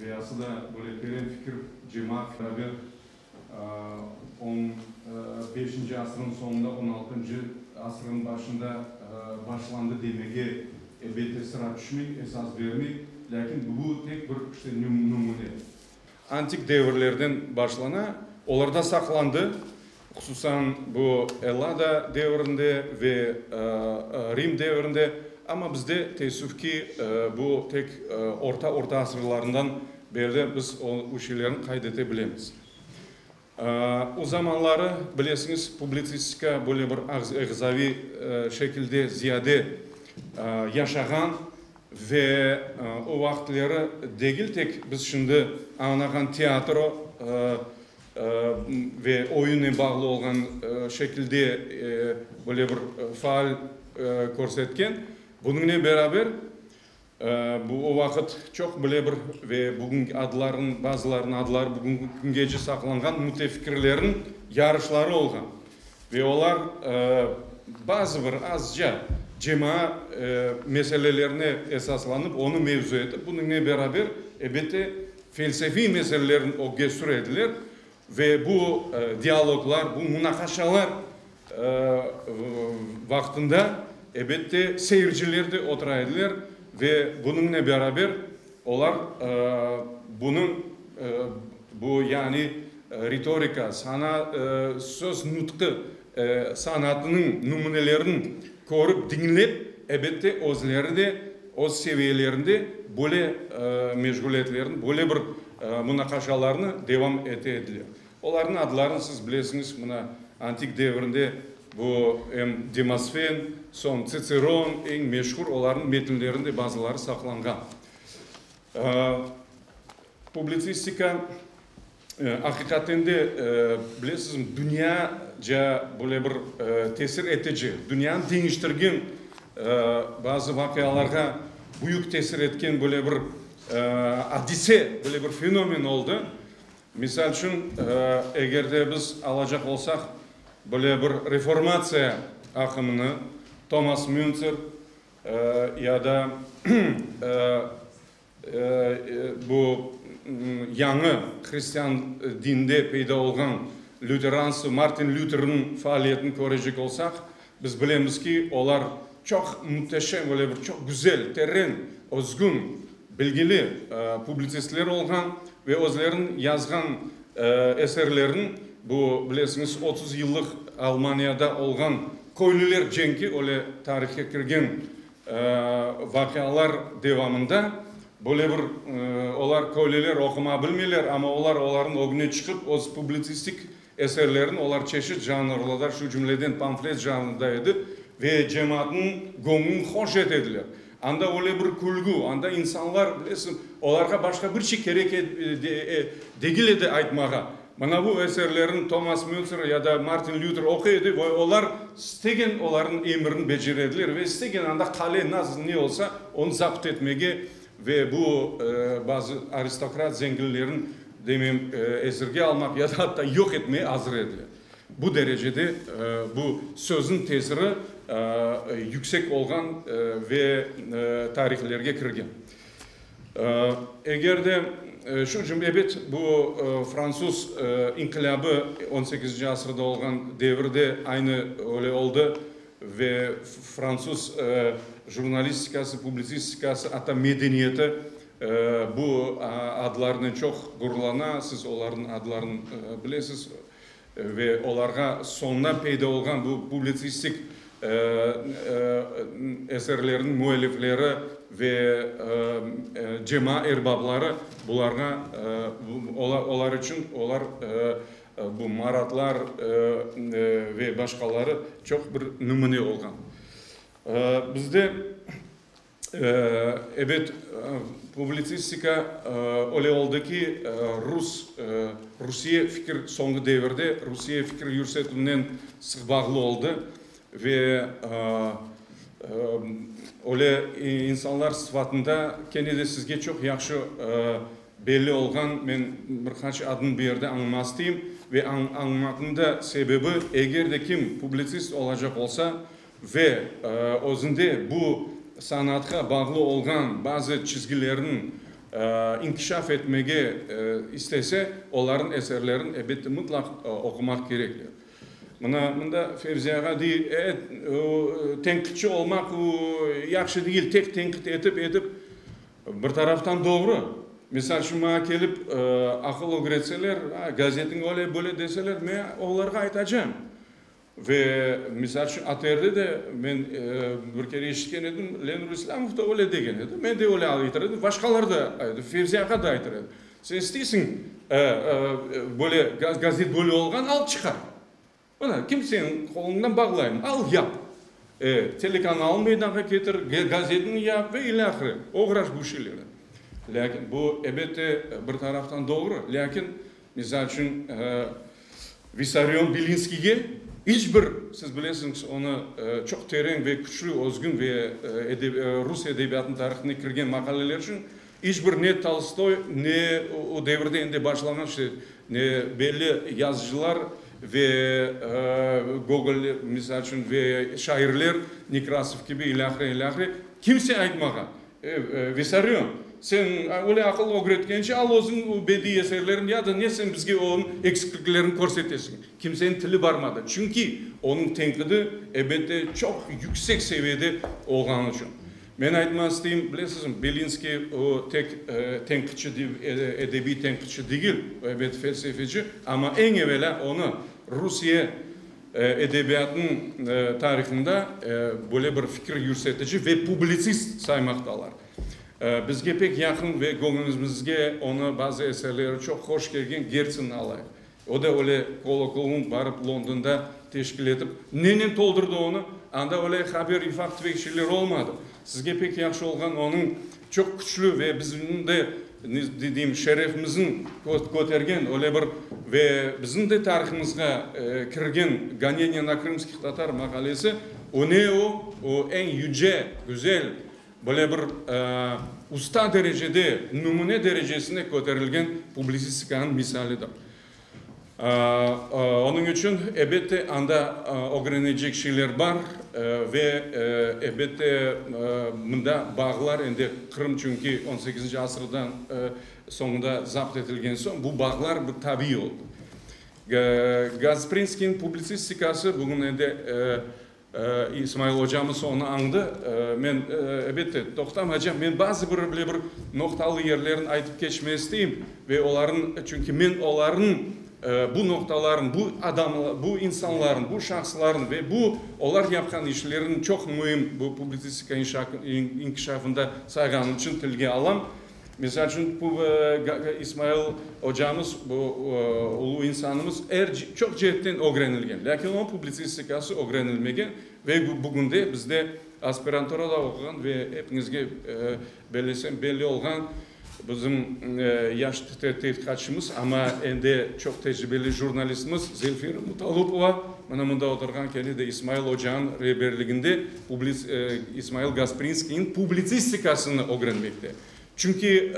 Ve asıda böyle teren fikir cemaat beraber on beşinci asırın soñunda, on altıncı asırın başında başlandı demege elbette sıra tüşmey, esas bermey, lâkin bu tek bir işte nümüne. Antik devirlerden başlana, olarda saqlandı Hususan bu Ellada devrinde ve Rim devrinde, amma bizde teessüf ki, bu tek orta orta asırlarından berli biz o şeylerni qayd ete bilemiz. O zamanları bilesiñiz, publitsistika böyle bir ağzaviy şekilde ziyade yaşağan ve o vaqıtları degil tek biz şimdi añlağan teatro Ve oyunı bağlı olğan şekilde böyle bir faal körsetken. Bunıñnen beraber, o vaqıt çoq böyle bir ve bugünki adlarnıñ, bazılarınıñ adları bugünki küngece saqlanğan mütefikirlerniñ yarışları olğan. Ve olar bazı bir azca cemaa meselelerine esaslanıp, onı mevzu etip, bunıñnen beraber, elbette, Felsefiy meselelerni ögge sürediler ve bu dialoglar, bu munaqaşalar vaqtında, ebette, seyirciler de otura ediler ve bunıñnen beraber olar bunıñ, bu yani ritorika, sana, söz nutqı sanatınıñ nümünelerin körip, diñlep, ebette özleri de öz seviyelerinde böyle meşğuliyetlerini, böyle bir munaqaşalarını devam ete ediler. Olarnıñ adlarını siz bilesiñiz, mına, antik devirde bu em Demosfen, soñ Tsitseron, eñ meşhur olarnıñ metinlerinde bazıları saqlanğan. Publitsistika. Aqiqaten de, bilesizmi, dünya ca böyle bir tesir etici, dünyanı deñiştirgen bazı vaqialarğa büyük tesir etken böyle bir adise, böyle bir fenomen oldı. Misal içün, eger de biz alacaq olsaq böyle bir reformatsiya aqımını, Tomas Münzer ya da Bu yañı hristian dinde peyda olğan lüteransı Martin Lüterniñ faaliyetini körecek olsaq, biz bilemiz ki, olar çoq müteşem, böyle bir çoq güzel, teren, özgün, bilgili publitsistler olğan ve özleriniñ yazğan eserlerini, bu, bilesiñiz, otuz yıllıq Almaniyada olğan köylüler cenki, öyle tarihe kirgen Vaqialar devamında böyle bir olar köleler oquma bilmeyler, amma olar olarnıñ ögüne çıqıp öz publitsistik eserlerini olar çeşit janrlarda, şu cümleden pamflet janrında edi, ve cemaatnıñ göñlün hoş et ediler. Anda öyle bir külgü, anda insanlar, bilesiñ, olarğa başqa bir şey kerek degil edi aytmağa. Mana bu eserlerni Tomas Mültzer ya da Martin Lüter oquy edi ve olar istegen olarnıñ emirini becere ediler ve istegen anda qale nasıl ne olsa onı zapt etmege ve bu bazı aristokrat zenginlerin demeyim esirge almaq ya da atta yoq etmege azır ediler. Bu derecede bu sözniñ tesiri yüksek olğan ve tarihlerge kirgen. Eger de şu cümle, ebet, bu fransuz inqilâbı on sekizinci asırda olğan devirde aynı öyle oldı ve fransuz jurnalistikası, publitsistikası, atta medeniyeti bu adlarnen çoq ğururlana, siz olarnıñ adlarını bilesiz. Ve olarğa soñdan peyda olğan bu publitsistik eserlerniñ müellifleri ve cema erbabları bularğa, olar içün, olar bu Maratlar ve başqaları çoq bir nümüne olğan. Bizde. Ebet, publitsistika öyle oldı ki, rus, Rusiye fikir soñğu devirde Rusiye fikir yürsetüvnen sıq bağlı oldı ve öyle insanlar sıfatında kene de sizge çoq yahşı belli olğan, men bir qaç adını bu yerde añıma isteyim ve añımaqnıñ da sebebi, eger de kim publitsist olacaq olsa, Ve özünde bu sanatqa bağlı olğan bazı çizgilerni inkişaf etmege istese, olarnıñ eserlerini, elbette, mıtlaq oqumaq kerektir. Mına mında Fevzi ağa dey, e, tenqitçi olmaq u yahşı degil, tek tenqit etip etip, bir taraftan doğru. Misal şun, maña kelip aqıl ögretseler, a, gazetiñ öyle, böyle deseler, men olarğa aytacam, Ve, misal içün, ATRde de men bir kere eşitken edim, Lenur İslâmov da öyle degen edi, men de öyle aytar edim, başqalar da aytar, Fevzi ağa da aytar edi, Sen isteysiñ, böyle, gazet böyle olğan, al çıqar. Mına, kim senin qoluñdan bağlayım, al, yap. Telekanalını meydanğa ketir, gazetini yap ve ile ahire, oğraş bu şeylernen. Lâkin bu, elbette, bir taraftan doğru, lâkin Misal içün, Vissarion Bilinskiyge iç bir, siz bilesiñiz, onı çoq teren ve küçlü, özgün ve rus edebiyatınıñ tarihine kirgen maqaleleri içün, iç bir ne Tolstoy, ne o devirde endi başlanğan işte belli yazıcılar ve Gogol, misal içün, ve şairler, Nekrasov kibi, ilâhre, ilâhre, kimse aytmağan. Vissarıon, sen öyle aqıl ögretkence, al özüñ o bediy eserlerin ya da ne sen bizge onıñ eksikliklerini körsetesiñ. Kimseniñ tili barmadı, çünki onıñ tenqidi, ebette, çoq yüksek seviyede olğanı içün. Men aytmaq isteyim, bilesizmi, Belinskiy o tek tenqitçi, edebiy tenqitçi degil, o, ebet, felsefeci, amma eñ evelâ onı Rusiye Edebiyatnıñ tarihında böyle bir fikir yürüsetici ve publitsist saymaqtalar. Bizge pek yaqın ve göñülümizge onı bazı eserleri çoq hoş kelgen Gertsinni alayıq. O da öyle kolokoum barıp Londonda teşkil etip, nenen toldurdı onı? Anda öyle haber-ifaq tüvekçiler olmadı. Sizge pek yahşı olğan onıñ Çoq küçlü ve bizim de, ne deyim, şerefimizin kötergen öyle bir ve bizim de tarihımızğa kirgen Goneniye na krımskih tatar maqalesi öne o, o eñ yüce, güzel, böyle bir usta derecede, nümüne derecesine köterilgen publisistikanıñ misalidir. Onıñ içün, elbette, anda ögrenecek şeyler bar ve, elbette, mında bağlar, endi Qırım çünki on sekizinci asırdan soñunda zapt etilgen soñ, bu bağlar bir tabiiy oldı. Gasprinskiyniñ publitsistikası bugün endi İsmail ocamız onı añdı. Men, ebette, toqtam hacam, men bazı bir bile bir noqtalı yerlerin aytıp keçme isteyim ve olarnı, çünki men olarnı, bu noqtalarnı, bu adam, bu insanlarnı, bu şahıslarnı ve bu olar yapqan işlerin çoq müim bu publitsistika inkişafında sayğanım içün tilge alam. Misal içün, İsmail ocamız, bu ulu insanımız çoq ceetten ögrenilgen, lâkin onıñ publitsistikası ögrenilmegen ve bugünde bizde aspiranturada oquğan ve epiñizge bellesem belli olğan bizim yaş tedqiqatçımız, amma endi çoq tecribeli jurnalistimiz Zelfira Mutalupova, mına mında oturğan, kene de İsmail ocanıñ reberliginde İsmail Gasprinskiyniñ publitsistikasını ögrenmekte. Çünki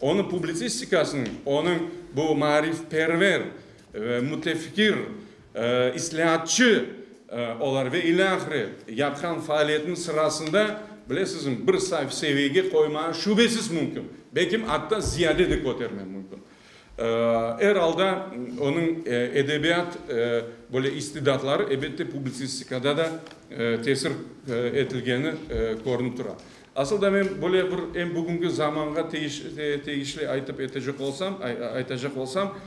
onıñ publitsistikasınıñ, onıñ bu maarifperver, mütefikir, islâatçı olar ve ile ahire yapqan faaliyetiniñ sırasında, bilesizmi, bir seviyege qoymağa şübesiz mümkün, belki atta ziyade de köterme mümkün. Er alda, onıñ edebiyat böyle istidatları, ebette, publitsistikada da tesir etilgeni körünip tura. Asıl da men böyle bir em bugüngi zamanğa teyişli aytıp etecek olsam, aytacaq olsam,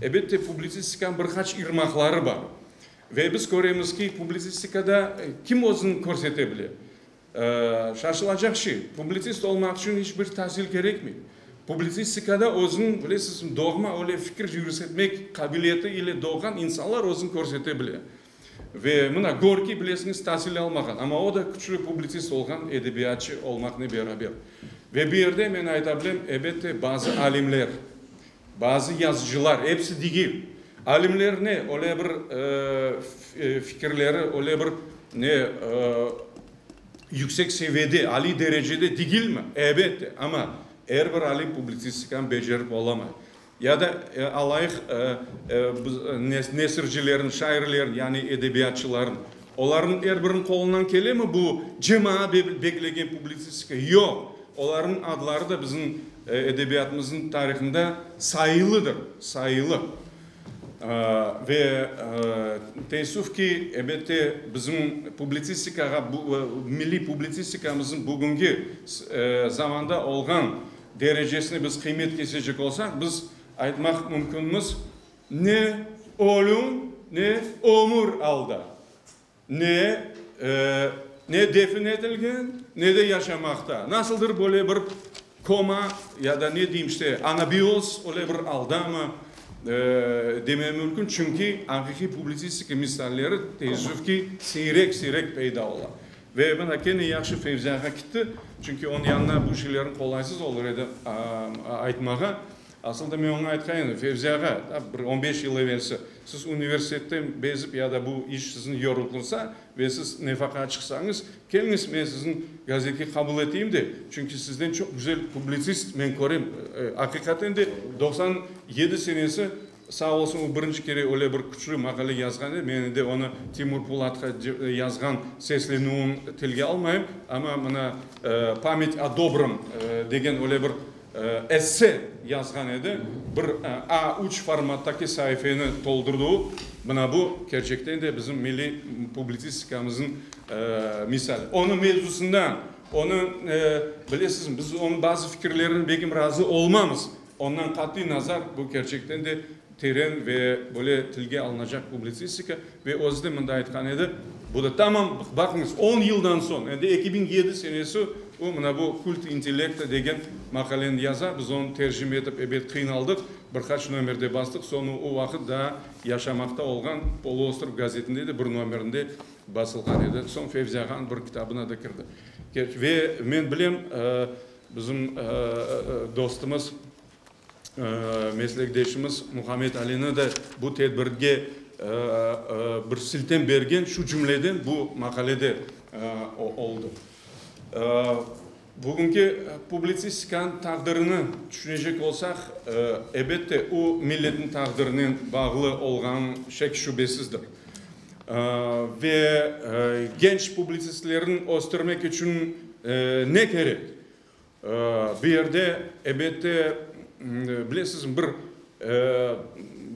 ebette, publitsistikanıñ bir qaç irmaqları bar. Ve biz köremiz ki, publitsistikada kim özüni körsete bile? Şaşılacaq şey, publitsist olmaq içün iç bir tasil kerekmey. Publitsistikada özüni, bilesizmi, doğma öyle fikir yürüsetmek qabiliyeti ile doğğan insanlar özüni körsete bile. Ve mına Gorkiy, bilesiñiz, tasil almağan, amma o da küçlü publitsist olğan, edebiyatçı olmaqnen beraber. Ve bu yerde men ayta bilem, elbette, bazı alimler, Bazı yazıcılar, episi degil, alimler ne öyle bir fikirleri öyle bir ne yüksek seviyede, aliy derecede degilmi? Elbette, amma er bir alim publitsistikanı becerip olamay. Ya da alayıq nesircilerin, şairlerin, yani edebiyatçıların. Olarnıñ er biriniñ qolundan kelemi bu cemaa beklegen publitsistika? Yoq, olarnıñ adları da bizim edebiyatımıznıñ tarihında sayılıdır, sayılı. Ve teessüf ki, elbette, bizim publitsistikağa, milliy publitsistikamıznıñ bugünki zamanda olğan derecesine biz qıymet kesecek olsaq, biz aytmaq mümkünmiz, Ne ölüm, ne ömür alda. Ne, ne defin etilgen, ne de yaşamaqta. Nasıldır böyle bir koma ya da ne deyim işte, anabiyoz, öyle bir aldamı demem mümkün. Çünki aqiqiy publitsistika misalleri teessüf ki, siyrek, siyrek peyda ola. Ve mına kene yahşı Fevziyağa kitti, çünki onıñ yanına bu şeylerni qolaysız olur edi aytmağa. Asıl da men oña aytqan edim, Fevzi ağa, tam bir on beş yıl evelsi, siz universitetten bezip ya da bu iş sizni yorultılsa ve siz nefaqa çıqsañız, keliñiz, men sizni gazetke qabul eteyim de, çünki sizden çoq güzel publitsist men körem. Aqiqaten de doqsan yedi senesi, sağ olsun, o birinci kere öyle bir küçlü maqale yazğan edi, men endi onı Timur Pulatqa yazğan seslenüvin tilge almayım, amma mına Pamet o dobrom degen öyle bir Esse yazğan edi, bir A3 formattaki saifeni toldurdıu, mına bu, kerçekten de bizim milliy publitsistikamızın misal. Onı mevzusından, onı, bilesizmi, biz onı bazı fikirlerini belkim razı olmamız, ondan qatiy nazar, bu kerçekten de Teren ve böyle tilge alınacaq publitsistika ve özü de mında aytqan edi, bu da tamam, baqıñız, on yıldan soñ, endi eki biñ yedi senesi o mına bu Kult intellekta degen maqaleni yaza, biz onı tercime etip ebet qıynaldıq, bir qaç nomerde bastıq, soñı o vaqıt daa yaşamaqta olğan Poloostrov gazetinde de bir nomerinde basılğan edi, soñ Fevzi ağanıñ bir kitabına da kirdi. Ve men bilem, bizim dostumız, meslekdeşimiz Muhammed Alini de bu tedbirge bir siltem bergen, şu cümleden bu maqalede oldı. Bugünki publitsistikanıñ taqdirini tüşünecek olsaq, elbette, o, milletniñ taqdirinen bağlı olğanı şek-şübesizdir. Ve genç publitsistlerni östürmek içün ne kerek? Bu yerde, elbette, bilesizmi, bir,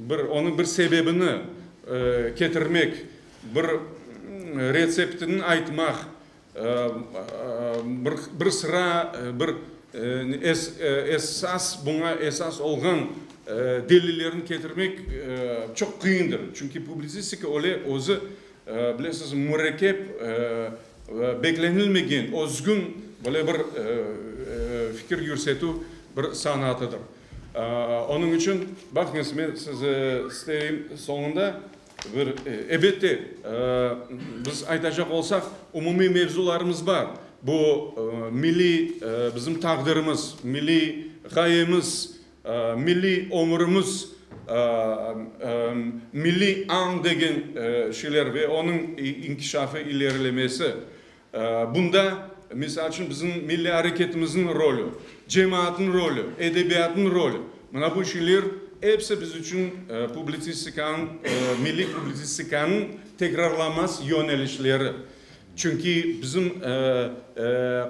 bir, onıñ bir sebebini ketirmek, bir retseptini aytmaq, bir, bir sıra, bir es, esas, buña esas olğan delillerini ketirmek çoq qıyındır. Çünki publitsistika öyle, özü Bilesiz, mürekkep, beklenilmegen, özgün böyle bir fikir yürsetüv bir sanatıdır. Onıñ içün, baqıñız, men size isteyim soñunda bir, elbette, biz aytacaq olsaq, umumiy mevzularımız bar. Bu milliy bizim taqdirimiz, milliy ğayemiz, Milliy ömürimiz, milliy añ degen şeyler ve onıñ inkişafı, ilerilemesi. Bunda, misal içün, bizim milliy areketimizniñ rolü, cemaatnıñ rolü, edebiyatnıñ rolü, mına bu şeyler episi biz içün publitsistikanıñ, milliy publitsistikanıñ tekrarlanmaz yönelişleri. Çünki bizim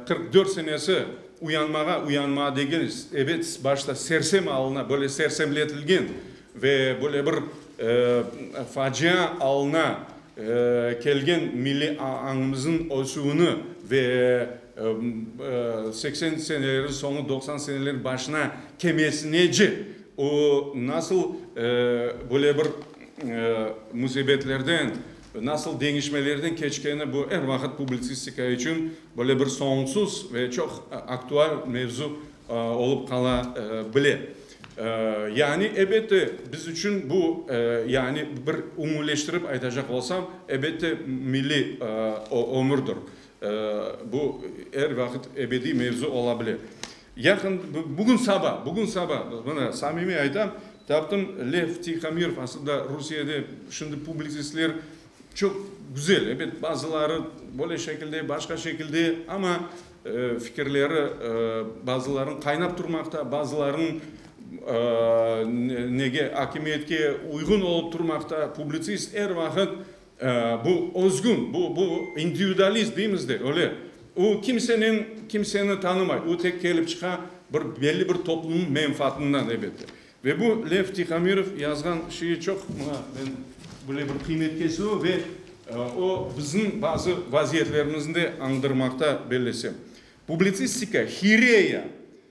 qırq dört senesi uyanmağa, uyanmağa degeniz, ebet, başta sersem alına, böyle sersemletilgen ve böyle bir facia alına kelgen milliy añımızın ösüvini ve seksen senelerin soñu, doqsan senelerin başına kemesinice o nasıl böyle bir musibetlerden, Nasıl deñişmelerden keçkeni bu er vaqıt publitsistika içün böyle bir soñsuz ve çoq aktual mevzu olıp qala bile. Yani, ebette, biz içün bu, yani, bir ümüleştirip aytacaq olsam, ebette, milliy ömürdir. Bu er vaqıt ebediy mevzu ola bile. Yaqın, bugün saba, bugün saba, mına, samimiy aytam, taptım, Lev Tihomirov, aslında Rusiyede şimdi publitsistler çoq güzel, elbet, bazıları böyle şekilde, başqa şekilde, amma fikirleri bazılarınıñ qaynap turmaqta, bazılarınıñ nege, akimiyetke uyğun olıp turmaqta, publitsist er vaqıt Bu özgün, bu, bu individualist deymiz de, öyle. O kimseniñ, kimseni tanımay, o tek kelip çıqa bir belli bir toplumnıñ menfaatından, elbette. Ve bu Lev Tihomirov yazğan şeyi çoq, mına men böyle bir qıymet kesivi ve o bizim bazı vaziyetlerimizni de añdırmaqta, bellesem. Publitsistika, hireya.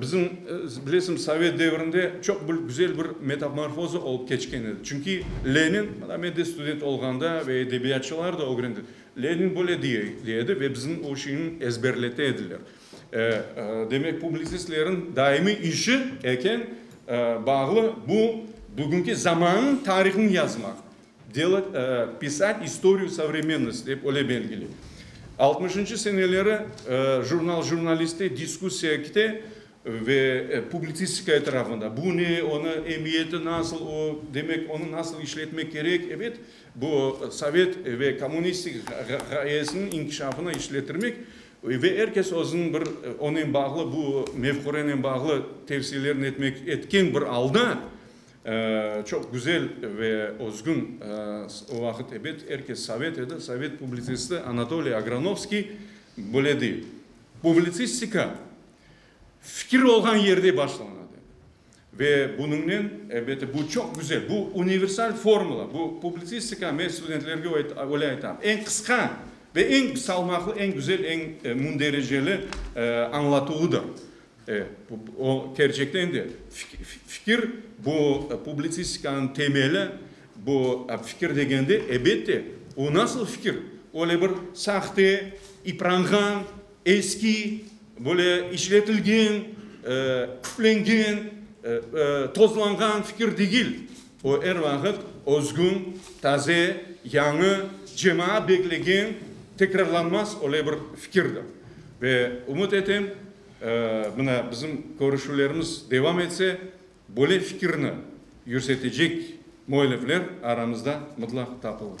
Bizim, bilesiñiz, sovet devrinde çoq bir güzel bir metamorfoza olıp keçken edi. Çünki Lenin, mında men de student olğanda ve edebiyatçılar da ögrendik, Lenin böyle diye edi ve bizim o şeyni ezberlete ediler. Demek, publisistleriñ daimiy işi eken, bağlı bu bugünki zamanın tarihını yazmaq. Delât pisat istoriyu sovremennost dep öyle belgiley. Altmışıncı seneleri jurnal jurnalisti diskussiyakte ve publitsistika etrafında, bu ne, onı emiyeti nasıl, o, demek, onı nasıl işletmek kerek, ebet, bu sovet ve kommunistik ğayesiniñ inkişafına işletirmek, ve er kes özüniñ bir onen bağlı, bu mefkürenen bağlı tevsiyelerini etmek, etken bir alda, Çoq güzel ve özgün o vaqıt ebet er kes sovet edi, sovet publitsisti Anatoliy Agranovskiy böyle dey, Publitsistika fikir olğan yerde başlana de. Ve bunıñnen ebet bu çoq güzel, bu universal formula, bu publitsistika, men studentlerge öyle aytam, eñ qısqa ve eñ salmaqlı, eñ güzel, eñ mündericeli añlatuvıdır. E, bu, o, kerçekten de fikir, bu, publitsistikanıñ temeli, bu, fikir degende, ebette, o nasıl fikir? Öyle bir sahte, ipranğan, eski, böyle işletilgen, küplengen, tozlanğan fikir degil. O er vaqıt özgün, taze, yañı, cemaat beklegen, tekrarlanmaz öyle bir fikirdir. Ve ümüt etem, mına bizim körüşüvlerimiz devam etse, böyle fikirni yürsetecek müellifler aramızda mıtlaq tapılır.